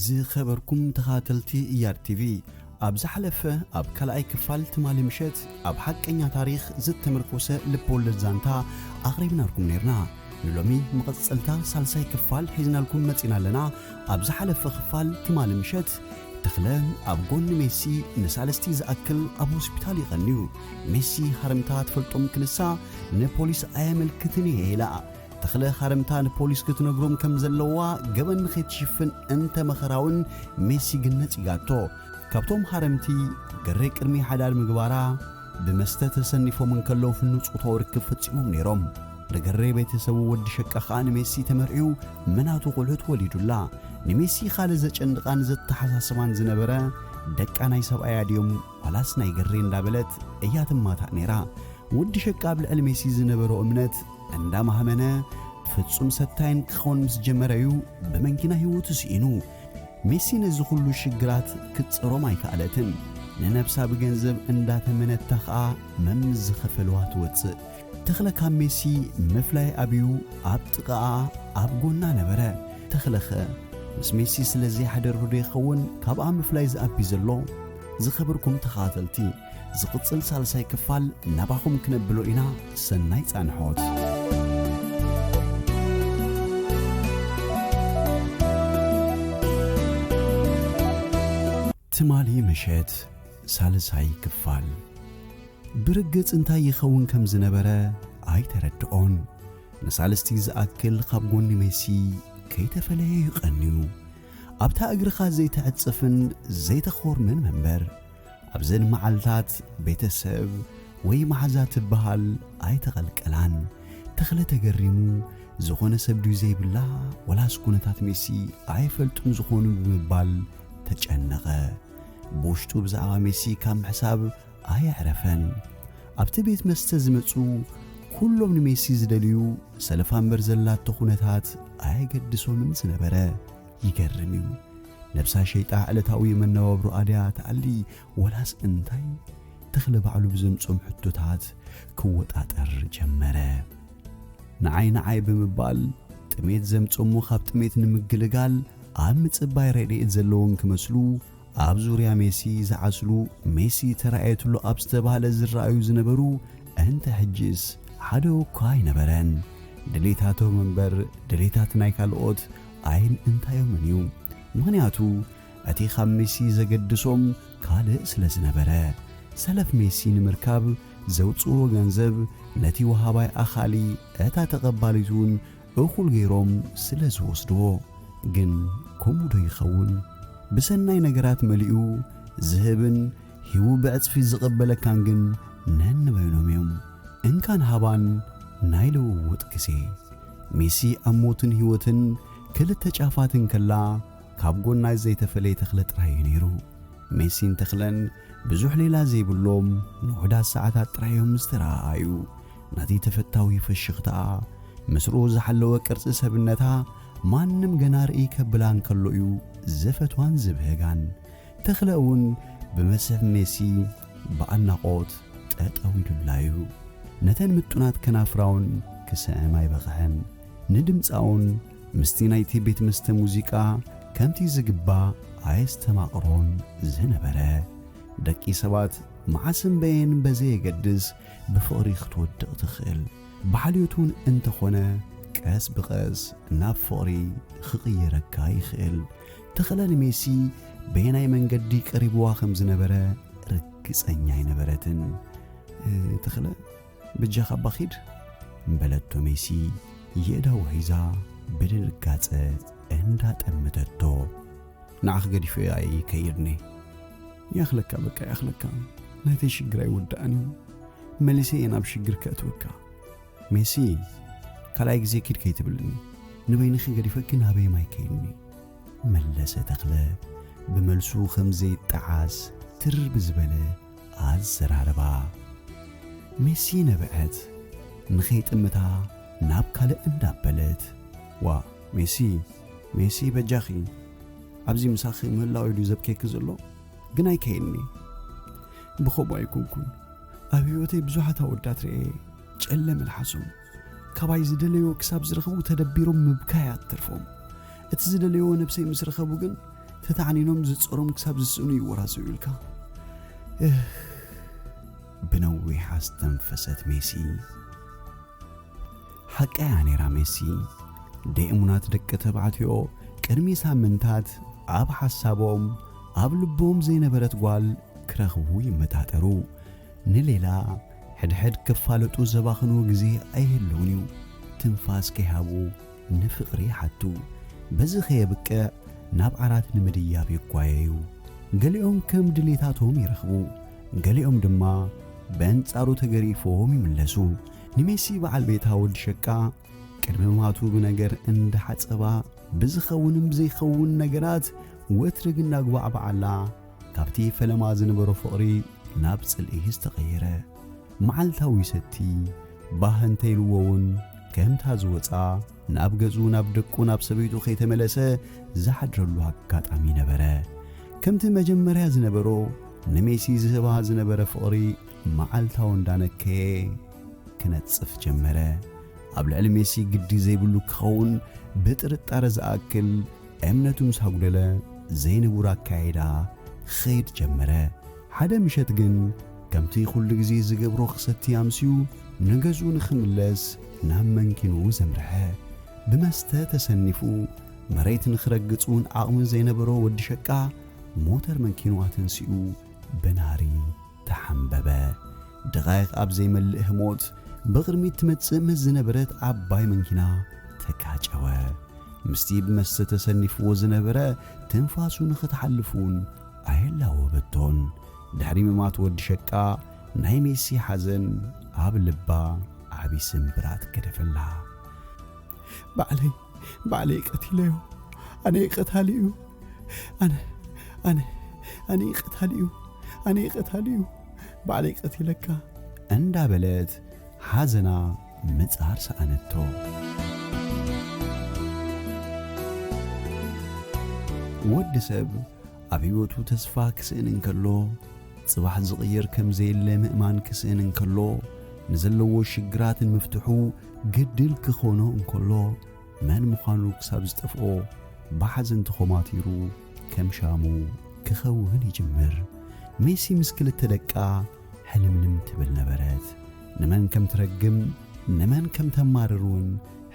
ዝኸበርኩም ተኻተልቲ እያድ ቲቪ ኣብ ዝሓለፈ ኣብ ካልኣይ ክፋል ትማሊ ምሸት ኣብ ሓቀኛ ታሪኽ ዝተመርኮሰ ልብወለድ ዛንታ ኣቕሪብናልኩም ነይርና ንሎሚ መቐጸልታ ሳልሳይ ክፋል ሒዝናልኩም መጺና ኣለና ኣብ ዝሓለፈ ክፋል ትማሊ ምሸት ተኽለ ኣብ ጎኒ ሜሲ ንሳልስቲ ዝኣክል ኣብ ሆስፒታል ይቐንዩ። ሜሲ ሃረምታ ትፈልጦም ክንሳ ንፖሊስ ኣየመልክትን እየ ኢላ። ተኽለ ሃረምታ ንፖሊስ ክትነግሮም ከም ዘለዋ ገበን ንኸይትሽፍን እንተ መኸራውን ሜሲ ግን ነጺጋቶ። ካብቶም ሃረምቲ ገሬ ቅድሚ ሓዳር ምግባራ ብመስተ ተሰኒፎም እንከለዉ ፍኑው ጾታዊ ርክብ ፈጺሞም ነይሮም። ርግሬ ቤተሰቡ ወዲ ሸቃ ኸኣ ንሜሲ ተመርዕዩ መናቱ ቁልዑት ወሊዱላ ንሜሲ ኻልእ ዘጨንቓን ዘተሓሳስባን ዝነበረ ደቃ ናይ ሰብኣያ ድዮም ዋላስ ናይ ግሬ እንዳበለት እያ ትማታእ ነይራ ወዲ ሸቃ ኣብ ልዕሊ ሜሲ ዝነበሮ እምነት እንዳማህመነ ፍጹም ሰታይን ክኾን ምስ ጀመረ እዩ ብመንኪና ህይወቱ ስኢኑ ሜሲ ነዚ ኹሉ ሽግራት ክትጽሮም ኣይከኣለትን ንነብሳ ብገንዘብ እንዳተመነታ ኸኣ መምዝ ኸፈልዋ ትወጽእ ተኽለ ካብ ሜሲ ምፍላይ ኣብዩ ኣብ ጥቓኣ ኣብ ጎና ነበረ። ተኽለኸ ምስ ሜሲ ስለ ዘይሓደርህዶ ይኸውን ካብኣ ምፍላይ ዝኣቢ ዘሎ? ዝኸብርኩም ተኸታተልቲ ዝቕጽል ሳልሳይ ክፋል ናባኹም ክነብሎ ኢና ሰናይ ጻንሖት። ትማሊ ምሸት ሳልሳይ ክፋል ብርግጽ እንታይ ይኸውን ከም ዝነበረ ኣይተረድኦን። ንሳልስቲ ዝኣክል ኻብ ጎኒ ሜሲ ከይተፈለየ እዩ ቀንዩ። ኣብታ እግርኻ ዘይተዕጽፍን ዘይተኾርምን መንበር ኣብዘን መዓልታት ቤተሰብ ወይ መሓዛ ትበሃል ኣይተቐልቀላን። ተኽለ ተገሪሙ ዝኾነ ሰብ ድዩ ዘይብላ ወላስ ኩነታት ሜሲ ኣይፈልጡን ዝኾኑ ብምባል ተጨነቐ። ብውሽጡ ብዛዕባ ሜሲ ካብ ምሕሳብ ኣየዕረፈን። ኣብቲ ቤት መስተ ዝመጹ ኩሎም ንሜሲ ዝደልዩ ሰለፋ እምበር ዘላቶ ኩነታት ኣየገድሶምን ዝነበረ። ይገርም እዩ። ነብሳ ሸይጣ ዕለታዊ መነባብሮ ኣድያ ትኣሊ ወላስ እንታይ ተኽለ ባዕሉ ብዘምጾም ሕቶታት ክወጣጠር ጀመረ። ንዓይ ንዓይ ብምባል ጥሜት ዘምጽእሞ ካብ ጥሜት ንምግልጋል ኣብ ምጽባይ ረድኤት ዘለዎም ክመስሉ ኣብ ዙርያ ሜሲ ዝዓስሉ ሜሲ ተራእየትሉ ኣብ ዝተባህለ ዝረኣዩ ዝነበሩ እንተ ሕጂስ ሓደ እኳ ኣይነበረን። ድሌታቶም እምበር ድሌታት ናይ ካልኦት ኣይን እንታዮምን እዩ። ምኽንያቱ እቲ ኻብ ሜሲ ዘገድሶም ካልእ ስለ ዝነበረ፣ ሰለፍ ሜሲ ንምርካብ ዘውጽእዎ ገንዘብ ነቲ ወሃባይ ኣኻሊ እታ ተቐባሊት እውን እኹል ገይሮም ስለ ዝወስድዎ። ግን ከምኡዶ ይኸውን? ብሰናይ ነገራት መሊኡ ዝህብን ሂቡ ብዕጽፊ ዝቕበለካን ግን ነንበይኖም እዮም። እንካን ሃባን ናይ ልውውጥ ግዜ። ሜሲ ኣብ ሞትን ህይወትን ክልተ ጫፋት እንከላ፣ ካብ ጎናይ ዘይተፈለየ ተኽለ ጥራይ እዩ ነይሩ። ሜሲን ተኽለን ብዙሕ ሌላ ዘይብሎም ንውሑዳት ሰዓታት ጥራይ እዮም ዝተረኣኣዩ። ነቲ ተፈታዊ ፍሽኽታኣ፣ ምስርኡ ዝሓለወ ቅርጺ ሰብነታ ማንም ገና ርእይ ከብላ እንከሎ እዩ ዝፈትዋን ዝብህጋን። ተኽለ እውን ብመስሕብ ሜሲ ብኣድናቖት ጠጠው ኢሉላ እዩ። ነተን ምጡናት ከናፍራውን ክስዕም ኣይበቕዐን። ንድምጻውን ምስቲ ናይቲ ቤት መስተ ሙዚቃ ከምቲ ዝግባእ ኣየስተማቕሮን ዝነበረ። ደቂ ሰባት መዓስ እምበየን በዘየገድስ ብፍቕሪ ክትወድቕ ትኽእል። ብሓልዮት እውን እንተኾነ ቀስ ብቐስ ናብ ፍቕሪ ኽቕይረካ ይኽእል። ተኽለ ንሜሲ በየናይ መንገዲ ቀሪብዋ ከም ዝነበረ ርግጸኛ ኣይነበረትን። ተኽለ በጃኻ እባ ኺድ በለቶ ሜሲ የእዳዉ ሒዛ ብድንጋጸ እንዳ ጠመተቶ። ንዓኺ ገዲፈዮ ኣየ ከይድኒ። ይኣኽለካ በቃ ይኣኽለካ ናተይ ሽግር ኣይውዳእን እዩ መሊሰ እየ ናብ ሽግር ከእትወካ። ሜሲ ካልኣይ ግዜ ኪድ ከይትብልኒ ንበይንኺ ገዲፈኪ ናበይ ማይ ከይድኒ። መለሰ ተኽለ ብመልሱ ከም ዘይጠዓስ ትር ብዝበለ ኣዘራርባ ሜሲ ነበዐት ንኸይጥምታ ናብ ካልእ እንዳበለት። ዋእ ሜሲ ሜሲ በጃኺ ኣብዚ ምሳኺ ምህላወይ ድዩ ዘብከየኪ ዘሎ ግን ኣይከየኒ ብኸምኡ ኣይኮንኩን ኣብ ህይወተይ ብዙሓት ኣወዳት ርኤ ጨለ መልሓሶም ካባይ ዝደለዮ ክሳብ ዝረኽቡ ተደቢሮም ምብካይ ኣትተርፎም እቲ ዝደለዮ ነብሰይ ምስ ረኸቡ ግን ተታዕኒኖም ዝጸሮም ክሳብ ዝስእኑ ይወራዘዩ ኢልካ ብነዊሕ ኣስተንፈሰት ሜሲ ሓቀያ ነይራ ሜሲ ደእሙናት ደቂ ተባዕትዮ ቅድሚ ሳምንታት ኣብ ሓሳቦም ኣብ ልቦም ዘይነበረት ጓል ክረኽቡ ይመጣጠሩ ንሌላ ሕድሕድ ክፋለጡ ዘባኽንዎ ግዜ ኣይህልውን እዩ። ትንፋስ ከይሃቡ ንፍቕሪ ይሓቱ። በዚ ከየብቅዕ ናብ ዓራት ንምድያብ ይጓየዩ። ገሊኦም ከም ድሌታቶም ይረኽቡ፣ ገሊኦም ድማ በንጻሩ ተገሪፎም ይምለሱ። ንሜሲ በዓል ቤታ ወዲ ሸቃ ቅድሚ ምማቱ ብነገር እንዳሓጸባ ብዝኸውንን ብዘይኸውን ነገራት ወትሪ ግንዳጉባዕባዓላ ካብቲ ፈለማ ዝነበሮ ፍቕሪ ናብ ጽልኢ ዝተቐየረ፣ መዓልታዊ ሰቲ ባህ እንተ ኢልዎ'ውን ከምታ ዝወጽኣ ናብ ገዝኡ፣ ናብ ደቁ፣ ናብ ሰበይቱ ከይተመለሰ ዝሓድረሉ ኣጋጣሚ ነበረ። ከምቲ መጀመርያ ዝነበሮ ንሜሲ ዝህባ ዝነበረ ፍቕሪ መዓልታዊ እንዳነከየ ክነጽፍ ጀመረ። ኣብ ልዕሊ ሜሲ ግዲ ዘይብሉ ክኸውን ብጥርጣረ ዝኣክል እምነቱ ምስ ኣጕደለ ዘይንቡር ኣከያይዳ ኺኸይድ ጀመረ። ሓደ ምሸት ግን ከምቲ ዅሉ ግዜ ዚገብሮ ኺሰቲ ኣምስዩ ንገዝኡ ንኺምለስ ናብ መንኪኑ ዘምርሐ። ብመስተ ተሰኒፉ መሬት ንኺረግጽ እውን ዓቕሚ ዘይነበሮ ወዲ ሸቃ ሞተር መንኪኑ ኣተንሲኡ ብናህሪ ተሓምበበ። ደቓይቕ ኣብ ዘይመልእ ህሞት፣ ብቕድሚት ትመጽእ ምስ ዝነበረት ዓባይ መንኪና ተጋጨወ። ምስቲ ብመስተ ተሰኒፍዎ ዝነበረ ትንፋሱ ንኽትሓልፍ'ውን ኣየላወበቶን። ድሕሪ ምማት ወዲ ሸቃ፣ ናይ ሜሲ ሓዘን ኣብ ልባ ዓቢ ስምብራት ገደፈላ። ባዕለይ ባዕለይ ቀቲለዮ ኣነይ ቀታሊ እዩ ኣነ ኣነ ኣነይ ቀታሊ እዩ ኣነይ ቀታሊ እዩ ባዕለይ ቀቲለካ እንዳበለት ሓዘና ምጻር ሰኣነቶ ወዲ ሰብ ኣብ ህይወቱ ተስፋ ክስእን እንከሎ ጽባሕ ዝቕየር ከም ዘየለ ምእማን ክስእን እንከሎ ንዘለዎ ሽግራትን ምፍትሑ ግድል ክኾኖ እንከሎ መን ምዃኑ ክሳብ ዝጠፍኦ ብሓዘን ተኾማቲሩ ከም ሻሙ ክኸውን ይጅምር። ሜሲ ምስ ክልተ ደቃ ሕልምልም ትብል ነበረት። ንመን ከም ትረግም ንመን ከም ተማርር እውን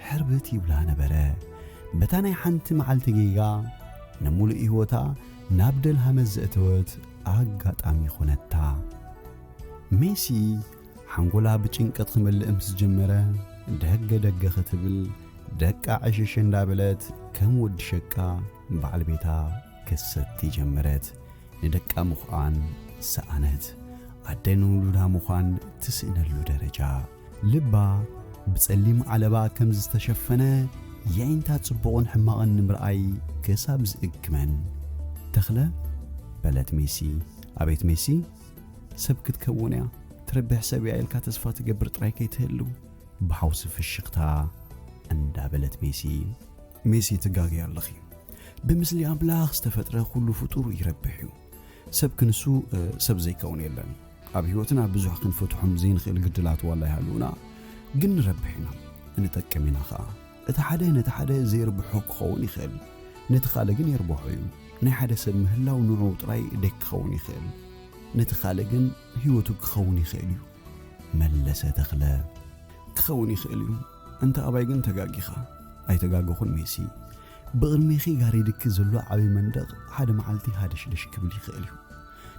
ሕርብት ይብላ ነበረ። በታ ናይ ሓንቲ መዓልቲ ጌጋ ንምሉእ ህይወታ ናብ ደልሃመት ዘእተወት ኣጋጣሚ ኾነታ። ሜሲ ሓንጎላ ብጭንቂ ክመልእ ምስ ጀመረ ደገ ደገ ክትብል ደቃ ዕሽሽ እንዳበለት ከም ወዲ ሸቃ በዓል ቤታ ክትሰቲ ጀመረት። ንደቃ ምኹኣን ሰኣነት። ኣደ ንውሉዳ ምዃን ትስእነሉ ደረጃ። ልባ ብጸሊም ዓለባ ከም ዝተሸፈነ የዒንታ ጽቡቕን ሕማቕን ንምርኣይ ክሳብ ዝእግመን። ተኽለ? በለት ሜሲ። ኣቤት ሜሲ? ሰብ ክትከውን እያ ትረብሕ ሰብ እያ ኢልካ ተስፋ ትገብር ጥራይ ከይትህሉ። ብሓውሲ ፍሽኽታ እንዳበለት ሜሲ። ሜሲ ትጋገይ ኣለኺ ብምስሊ ኣምላኽ ዝተፈጥረ ኩሉ ፍጡር ይረብሕ እዩ ሰብ ክንሱ ሰብ ዘይከውን የለን ኣብ ህይወትና ብዙሕ ክንፈትሖም ዘይንኽእል ግድላት ዋላ ይሃልውና ግን ንረብሕ ኢና ንጠቅም ኢና ኸኣ እቲ ሓደ ነቲ ሓደ ዜርብሖ ኪኸውን ይኽእል፣ ነቲ ኻልእ ግን የርብሖ እዩ። ናይ ሓደ ሰብ ምህላው ንዕኡ ጥራይ ደይኪኸውን ይኽእል፣ ነቲ ኻልእ ግን ህይወቱ ኪኸውን ይኽእል እዩ። መለሰ ተኽለ። ኪኸውን ይኽእል እዩ፣ እንተ ኣባይ ግን ተጋጊኻ። ኣይተጋገኹን ሜሲ። ብቕድሜኺ ጋሪድኪ ዘሎ ዓቢ መንደቕ ሓደ መዓልቲ ሃደሽደሽ ኪብል ይኽእል እዩ።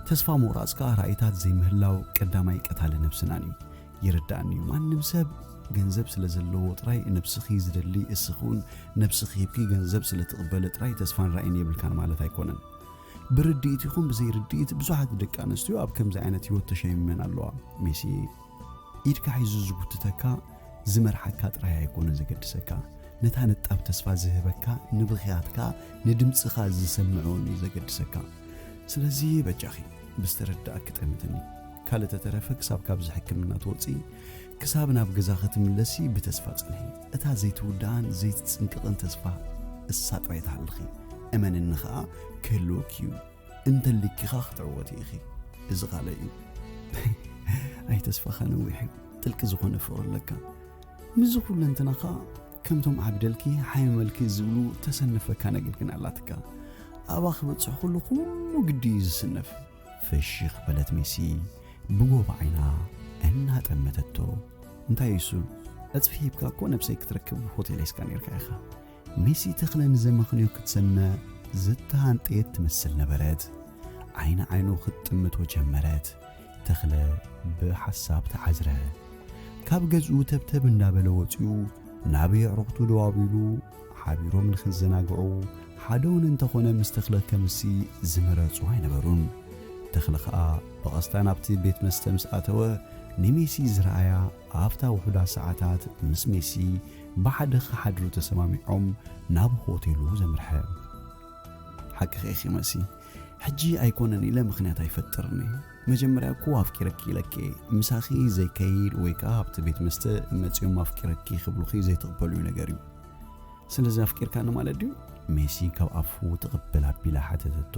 ተስፋ ምቑራጽ ከኣ ራኢታት ዘይምህላው ቀዳማይ ቀታሊ ነብስናን እዩ። ይርዳእኒ እዩ ማንም ሰብ ገንዘብ ስለ ዘለዎ ጥራይ ነብስኺ ዝደሊ እስኺ እውን ነብስኺ ሂብኪ ገንዘብ ስለ ትቕበሊ ጥራይ ተስፋን ራእይን የብልካን ማለት ኣይኮነን ብርድኢት ይኹን ብዘይርድኢት ብዙሓት ደቂ ኣንስትዮ ኣብ ከምዚ ዓይነት ህይወት ተሸሚመን ኣለዋ ሜሲ ኢድካ ሒዙ ዝጉትተካ ዝመርሓካ ጥራይ ኣይኮነን ዘገድሰካ ነታ ንጣብ ተስፋ ዝህበካ ንብኽያትካ ንድምፅኻ ዝሰምዑን እዩ ዘገድሰካ ስለዚ በጃኺ ብዝተረዳእኪ ጠምትኒ ካልእ ተተረፈ ክሳብ ካብዚ ሕክምና ትወጽኢ ክሳብ ናብ ገዛ ክትምለሲ ብተስፋ ጽንሒ እታ ዘይትውድኣን ዘይትጽንቅቕን ተስፋ እሳ ጥራይ ትሃልኺ እመንኒ ኸኣ ክህልወኪ እዩ እንተሊኪኻ ክትዕወቲ ኢኺ እዚ ቃለይ እዩ ኣይ ተስፋኻ ነዊሕ እዩ ጥልቂ ዝኾነ ፍቕሪ ኣለካ ምስዚ ኩለንትናኻ ከምቶም ዓብደልኪ ሓይመልኪ ዝብሉ ተሰንፈካ ነግንግን ኣላትካ ኣብኣ ክበጽሕ ኩሉ ኩሉ ግዲ እዩ ዝስነፍ ፍሽኽ በለት ሜሲ ብጎቦ ዓይና እናጠመተቶ። እንታይ እሱ ዕጽፊ ሂብካ እኮ ነብሰይ ክትረክብ ሆቴል ሒዝካ ነርካ ኢኻ። ሜሲ ተኽለ ንዘመኽንዮ ክትሰምዕ ዝተሃንጠየት ትመስል ነበረት። ዓይኒ ዓይኑ ክትጥምቶ ጀመረት። ተኽለ ብሓሳብ ተዓዝረ። ካብ ገዝኡ ተብተብ እንዳበለ ወጺኡ ናብ የዕሩኽቱ ደው ኣቢሉ ሓቢሮም ንኽዘናግዑ ሓደውን እንተኾነ ምስ ተኽለ ከምሲ ዝመረጹ ኣይነበሩን። ተኽለ ኸኣ ብቐስታ ናብቲ ቤት መስተ ምስ ኣተወ ንሜሲ ዝረኣያ ኣብታ ውሑዳ ሰዓታት ምስ ሜሲ ብሓደ ክሓድሩ ተሰማሚዖም ናብ ሆቴሉ ዘምርሐ። ሓቅኺ ኢኺ መሲ፣ ሕጂ ኣይኮነን ኢለ ምኽንያት ኣይፈጥርን እየ መጀመርያ እኮ ኣፍቂረኪ ኢለኪ እየ ምሳኺ ዘይከይድ ወይ ከኣ ኣብቲ ቤት መስተ መጺኦም ኣፍቂረኪ ክብሉኺ ዘይትቕበልዮ ነገር እዩ ስለዚ ኣፍቂርካኒ ማለት ድዩ ሜሲ ካብ ኣፉ ትቕበል ኣቢላ ሓተተቶ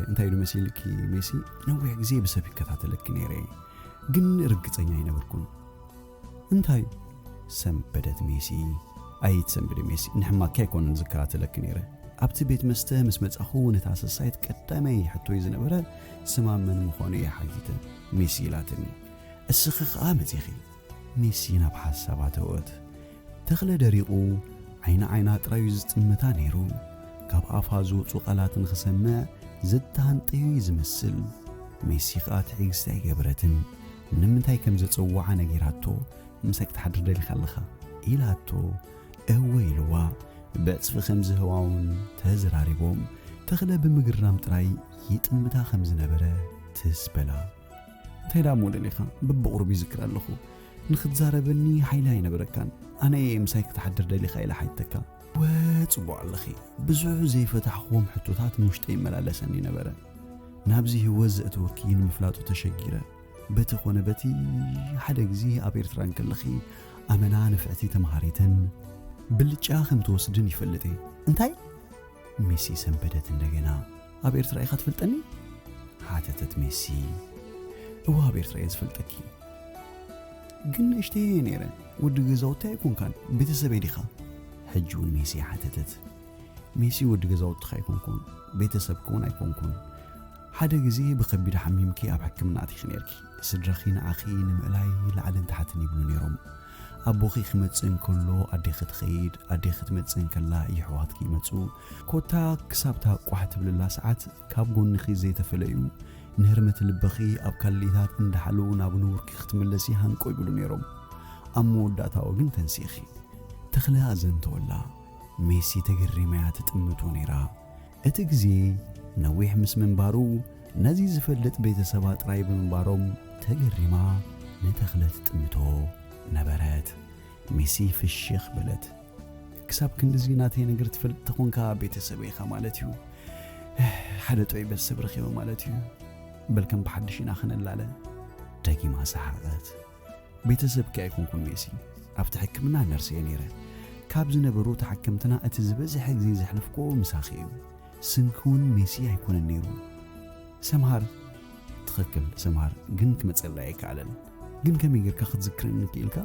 እንታይ ኢሉ መሲልኪ ሜሲ ነዊሕ ግዜ ብሰብ ይከታተለኪ ነይረ ግን ርግጸኛ ኣይነበርኩን እንታይ ሰንበደት ሜሲ ኣይት ሰንብደ ሜሲ ንሕማኪ ኣይኮነን ዝከታተለኪ ነይረ ኣብቲ ቤት መስተ ምስ መጻኹ ነታ ሰሳይት ቀዳመይ ሕቶይ ዝነበረ ስማ መን ምዃኑ እየ ሓቲተ ሜሲ ኢላትኒ እስኺ ኸኣ መጺኺ ሜሲ ናብ ሓሳባ ተወት ተኽለ ደሪቑ ዓይኒ ዓይና ጥራዩ ዝጥምታ ነይሩ ካብ ኣፋ ዝወፁ ቃላት ንኽሰምዕ ዘተሃንጠዩ እዩ ዝመስል ሜሲ ኸኣ ትዕግስቲ ኣይገበረትን ንምንታይ ከም ዘጸውዓ ነጊራቶ ምሳይ ክትሓድር ደሊኻ ኣለኻ ኢላቶ እወ ኢልዋ ብዕጽፊ ከም ዝህዋውን ተዝራሪቦም ተኽለ ብምግራም ጥራይ ይጥምታ ከም ዝነበረ ትስ በላ እንታይ ዳሞ ደሊኻ ብብቕሩብ ይዝክር ኣለኹ ንክትዛረበኒ ሓይሊ ኣይነበረካን ኣነ እየ ምሳይ ክትሓድር ደሊኻ ኢላ ሓይተካ እወ ጽቡቕ ኣለኺ። ብዙሕ ዘይፈታሕክዎም ሕቶታት ንውሽጠይ ይመላለሰኒ ነበረ። ናብዚ ህይወት ዘእተወኪ ንምፍላጡ ተሸጊረ። በቲ ኮነ በቲ ሓደ ግዜ ኣብ ኤርትራ እንከለኺ ኣመና ንፍዕቲ ተምሃሪትን ብልጫ ከም ትወስድን ይፈልጥ እየ። እንታይ? ሚሲ ሰንበደት እንደገና። ኣብ ኤርትራ ኢኻ ትፈልጠኒ? ሓተተት ሜሲ። እወ ኣብ ኤርትራ እየ ዝፈልጠኪ። ግን ንእሽተይ እየ ነይረ፣ ወዲ ገዛውቲ ኣይኮንካን፣ ቤተሰበይ ዲኻ? ሕጂ እውን ሜሲ ሓተተት። ሜሲ ወዲ ገዛውትኻ ኣይኮንኩን፣ ቤተሰብኪ እውን ኣይኮንኩን። ሓደ ግዜ ብከቢድ ሓሚምኪ ኣብ ሕክምና ኣቲኺ ነርኪ። ስድራኺ ንዓኺ ንምእላይ ላዕልን ታሕትን ይብሉ ነይሮም። ኣቦኺ ክመጽእ እንከሎ ኣዴኺ ትኸይድ፣ ኣዴኺ ትመጽእ እንከላ የሕዋትኪ ይመጹ። ኮታ ክሳብታ ቋሕ ትብልላ ሰዓት ካብ ጎንኺ ዘይተፈለዩ ንህርመት ልብኺ ኣብ ካልኢታት እንዳሓለዉ ናብ ንቡርኪ ክትምለሲ ሃንቆ ይብሉ ነይሮም ኣብ መወዳእታኦ ግን ተንሲእኺ ተኽለ ኣዘንተወላ ሜሲ ተገሪማያ ትጥምቶ ነይራ እቲ ግዜ ነዊሕ ምስ ምንባሩ ነዚ ዝፈልጥ ቤተሰባ ጥራይ ብምንባሮም ተገሪማ ንተኽለ ትጥምቶ ነበረት ሜሲ ፍሽኽ በለት ክሳብ ክንድዚ ናተይ ነገር ትፈልጥ ተኾንካ ቤተሰበይ ኢኻ ማለት እዩ ሓደ ጥዑይ ቤተሰብ ረኺበ ማለት እዩ በልከም ብሓድሽ ኢና ክንላለ ደጊማ ሰሓቐት ቤተሰብኪ ኣይኮንኩን ሜሲ ኣብቲ ሕክምና ነርሲ እየ ነይረ ካብ ዝነበሩ ተሓከምትና እቲ ዝበዝሐ ግዜ ዘሕለፍክዎ ምሳኺ እዩ ስምኪ እውን ሜሲ ኣይኮነን ነይሩ ሰምሃር ትኽክል ሰምሃር ግን ክመፀላ ኣይከኣለን ግን ከመይ ጌርካ ክትዝክረኒ ክኢልካ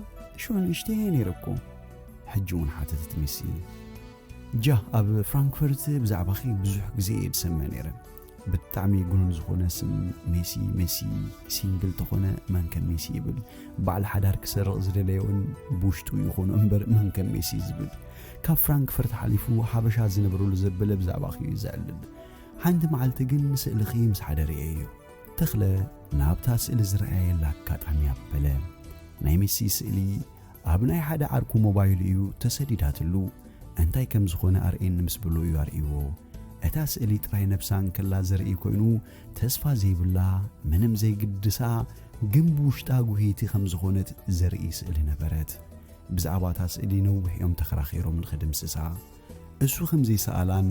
ሽዑ ንእሽተየ ነይረ እኮ ሕጂ እውን ሓተተት ሜሲ ጃ ኣብ ፍራንክፈርት ብዛዕባኺ ብዙሕ ግዜ እየ ዝሰምዕ ነይረ ብጣዕሚ ጉኑን ዝኾነ ስም ሜሲ ሜሲ ሲንግል ተኾነ መን ከም ሜሲ ይብል በዓል ሓዳር ክሰርቕ ዝደለየ እውን ብውሽጡ ይኹኑ እምበር መን ከም ሜሲ ዝብል ካብ ፍራንክፈርት ሓሊፉ ሓበሻ ዝነብረሉ ዘበለ ብዛዕባኺ እዩ ዘዕልል ሓንቲ መዓልቲ ግን ስእልኺ ምስ ሓደር እየ እዩ ተኽለ ናብታ ስእሊ ዝረኣየላ ኣጋጣሚ ኣበለ። ናይ ሜሲ ስእሊ ኣብ ናይ ሓደ ዓርኩ ሞባይሉ እዩ ተሰዲዳትሉ። እንታይ ከም ዝኾነ ኣርእየኒ ምስ በሎ እዩ ኣርእይዎ። እታ ስእሊ ጥራይ ነብሳ እንከላ ዘርኢ ኮይኑ ተስፋ ዘይብላ ምንም ዘይግድሳ ግን ብውሽጣ ጉህይቲ ከም ዝኾነት ዘርኢ ስእሊ ነበረት። ብዛዕባ እታ ስእሊ ነዊሕ እዮም ተኸራኺሮም ንኽድምስሳ። እሱ ከም ዘይሰኣላን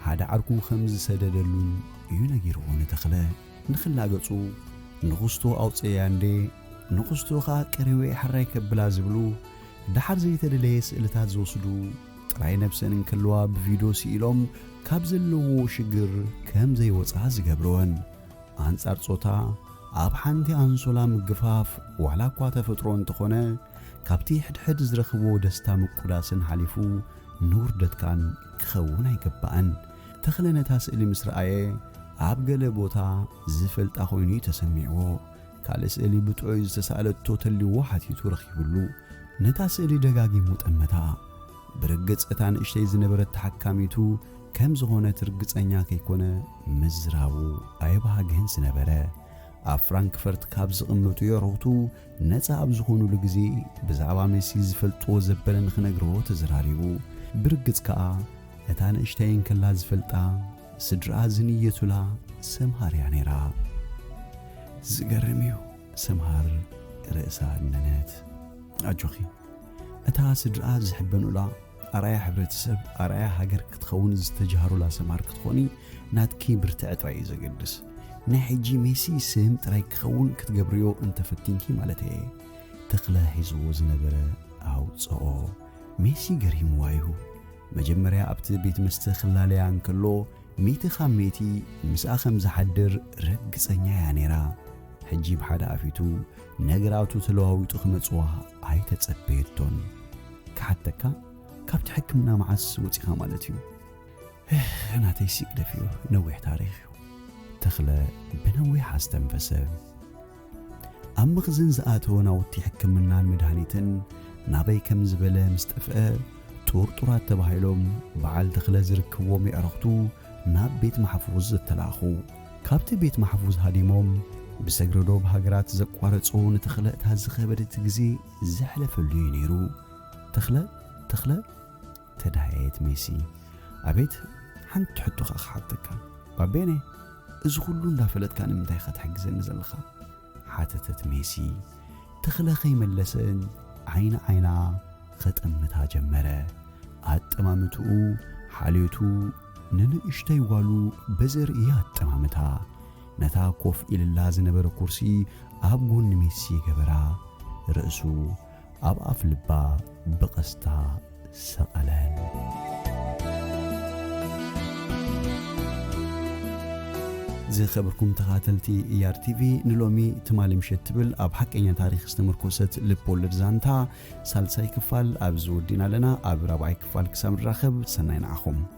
ሓደ ዓርኩ ከም ዝሰደደሉን እዩ ነጊርዎ ንተኽለ ንኽላገጹ ንኹስቶ ኣውጽኤያ እንዴ ንኹስቶ ከኣ ቀሪዌ ሕራይ ከብላ ዝብሉ ደሓር ዘይተደለየ ስእልታት ዝወስዱ ጥራይ ነብሰን እንከለዋ ብቪዶ ስኢሎም ካብ ዘለዎ ሽግር ከም ዘይወጻ ዝገብርወን ኣንጻር ጾታ ኣብ ሓንቲ ኣንሶላ ምግፋፍ ዋላ እኳ ተፈጥሮ እንተኾነ ካብቲ ሕድሕድ ዝረኽብዎ ደስታ ምቁዳስን ሓሊፉ ንውርደትካን ክኸውን ኣይግባእን። ተኽለ ነታ ስእሊ ምስ ረኣየ ኣብ ገለ ቦታ ዝፈልጣ ኮይኑ እዩ ተሰሚዕዎ። ካልእ ስእሊ ብጥዑይ ዝተሳእለቶ ተልይዎ ሓቲቱ ረኺብሉ። ነታ ስእሊ ደጋጊሙ ጠመታ። ብርግጽ እታ ንእሽተይ ዝነበረት ተሓካሚቱ ከም ዝኾነት ርግጸኛ ከይኮነ ምዝራቡ ኣየብሃገን ዝነበረ። ኣብ ፍራንክፈርት ካብ ዝቕመጡ የዕሩኽቱ ነጻ ኣብ ዝኾኑሉ ግዜ ብዛዕባ ሜሲ ዝፈልጥዎ ዘበለ ንኽነግርዎ ተዘራሪቡ። ብርግጽ ከኣ እታ ንእሽተይ እንከላ ዝፈልጣ ስድርኣ ዝንየቱላ ሰምሃር እያ ነይራ። ዝገርም እዩ። ሰምሃር ርእሳ እነነት። ኣጆኺ እታ ስድርኣ ዝሕበኑላ ኣርኣያ ሕብረተሰብ፣ ኣርኣያ ሃገር ክትኸውን ዝተጀሃሩላ ሰምሃር ክትኾኒ ናትኪ ብርትዐ ጥራይ እዩ ዘገድስ። ናይ ሕጂ ሜሲ ስም ጥራይ ክኸውን ክትገብርዮ እንተፈቲንኪ ማለተይ እየ። ተኽለ ሒዝዎ ዝነበረ ኣውጽኦ። ሜሲ ገሪምዋ እዩ። መጀመርያ ኣብቲ ቤት መስተ ክላለያ እንከሎ ሚእቲ ካብ ሚእቲ ምስኣ ከም ዝሓድር ርግጸኛ እያ ነይራ። ሕጂ ብሓደ ኣፊቱ ነገራቱ ተለዋዊጡ ክመጽዋ ኣይተጸበየቶን። ክሓተካ ካብቲ ሕክምና መዓስ ወጺኻ ማለት እዩ? እህ ናተይ ሲግደፍ እዩ ነዊሕ ታሪኽ እዩ። ተኽለ ብነዊሕ ኣስተንፈሰ። ኣብ መኽዝን ዝኣተወ ናውቲ ሕክምናን መድሃኒትን ናበይ ከም ዝበለ ምስ ጠፍአ ጥርጡራት ተባሂሎም በዓል ተኽለ ዝርክብዎም የዕርኽቱ ናብ ቤት ማሕፉዝ ዝተላእኹ። ካብቲ ቤት ማሕፉዝ ሃዲሞም ብሰግረዶብ ሃገራት ዘቋረጹ ንተኽለ እታ ዝኸበደት ግዜ ዘሕለፈሉ እዩ ነይሩ ተኽለ ተኽለ ተዳየት ሜሲ ኣቤት ሓንቲ ሕቶ ከኣ ክሓተካ ባቤነ እዚ ኩሉ እንዳፈለጥካ ንምንታይ ኢኻ ትሕግዘኒ ዘለኻ ሓተተት ሜሲ ተኽለ ከይመለሰን ዓይኒ ዓይና ኸጠምታ ጀመረ ኣጠማምትኡ ሓልዮቱ ንንእሽተይ ጓሉ በዘርእያ ኣጠማምታ ነታ ኮፍ ኢልላ ዝነበረ ኩርሲ ኣብ ጎኒ ሜሲ ገበራ። ርእሱ ኣብ ኣፍ ልባ ብቐስታ ሰቐለን። ዝኸብርኩም ተኻተልቲ ኢኣር ቲቪ ንሎሚ ትማሊ ምሸት ትብል ኣብ ሓቀኛ ታሪክ ዝተመርኮሰት ልብ ወለድ ዛንታ ሳልሳይ ክፋል ኣብዚ ወዲና ኣለና ኣብ ራብዓይ ክፋል ክሳብ ንራኸብ ሰናይ ንዓኹም